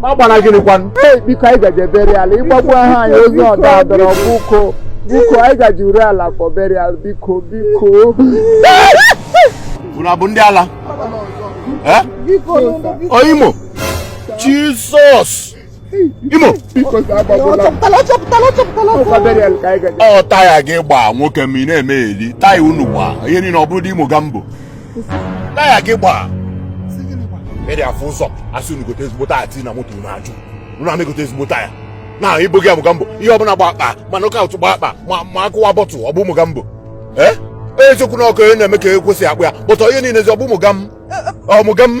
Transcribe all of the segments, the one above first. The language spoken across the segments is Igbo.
ma gbara gịnị kwanụ ee biko anyị gaje burial ịgbagbu aha anyị ozi ọdọ adọrọ biko biko anyị gaje Uruala for burial biko biko unu abụ ndị ala Eh? Ọ Imo Jizọs Imo biko sa agbagbula chọpụtala chọpụtala chọpụtala ọkwa burial ka anyị gaje ọ taya gị gbaa nwoke ma ị na-eme eli taya unu gbaa ihe niile ọ bụrụ ndị Mogambo taya gị gbaa ị dị afụ ụzọ asị unu gote ezigbo taya tii na moto unu ajụ unu ama egote ezigbo taya na ibo gị Mogambo ihe ọbụla gba akpa ma nọka ụtụ gba akpa ma akụwa bọtụ ọ bụ Mogambo ee eziokwu na ọkụ onye na-eme ka ekwesị akpụ ya bụtọ ihe niile ezi ọ bụ ụmụga m ọmụga m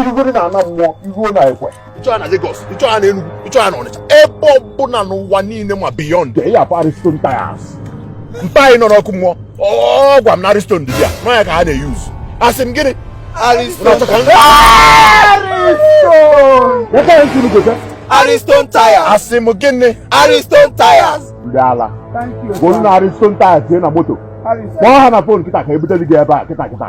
irugoro na ana mmụọ iruo na ekwe ịchọọ na Lagos ịchọọ na Enugu ịchọọ na Ọnịcha ebe ọbụla n'ụwa niile ma beyond they have Ariston Tires mpa anyị nọ n'ọkụ mmụọ ọ gwa m na Ariston dị ya na ya ka ha na-eyuz asị m gịnị Ariston Ariston Tires asị m gịnị Ariston Tires ndị ala golu na Ariston Tires tie na moto kpọọ ha na fon kịta ka ebute gị ebe a kịta kịta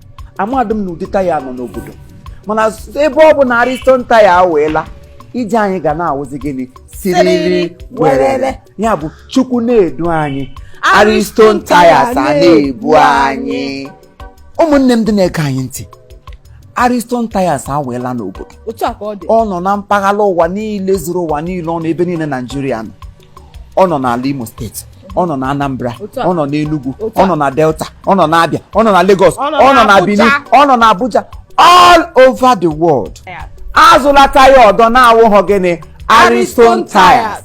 amadị m na ụdị taya nọ n'obodo mana ebe ọ bụ na ariston taya awaala ije anyị ga na-awụzi gịnị siriri werere ya bụ chukwu na-edu anyị ariston tayas a na-ebu anyị ụmụnne m ndị na-ege anyị ntị ariston tayas awaala n'obodo ọ nọ na mpaghara ụwa niile zuru ụwa niile ọ nọ ebe niile naijiria nọ ọ nọ n'ala Imo steeti ọ nọ na Anambra ọ nọ n'Enugu ọ nọ na Delta ọ nọ na Abia ọ nọ na Lagos ọ nọ na Benin ọ nọ na Abuja all over the world azụla taya ọdọ na-awụghọ gịnị Ariston tires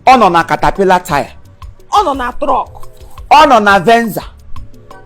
ọ nọ na Caterpillar tire ọ nọ na trọk ọ nọ na Venza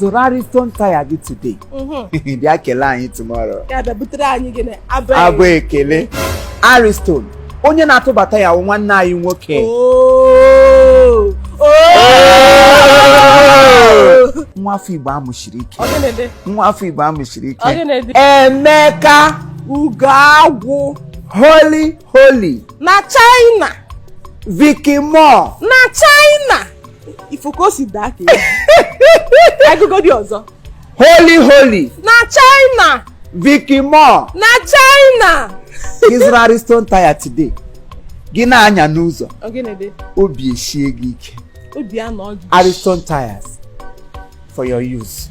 zụrụ Ariston taya gị today mhm. bịa kelee anyị tomorrow abụ ekele Ariston onye na-atụbata ya wụ nwanne anyị nwoke oh! Oh! nwa afọ Igbo amụsiri ike nwa afọ Igbo amụsiri ike Emeka Ugoagwụ Holy Holy na China Vicky Moore na China ifo ka o si daa ka agụgo dị ọzọ holy holy na china vicky moore na china ị zụrụ ariston tire today gị na-anya n'ụzọ obi esie gị ike ariston tires for your use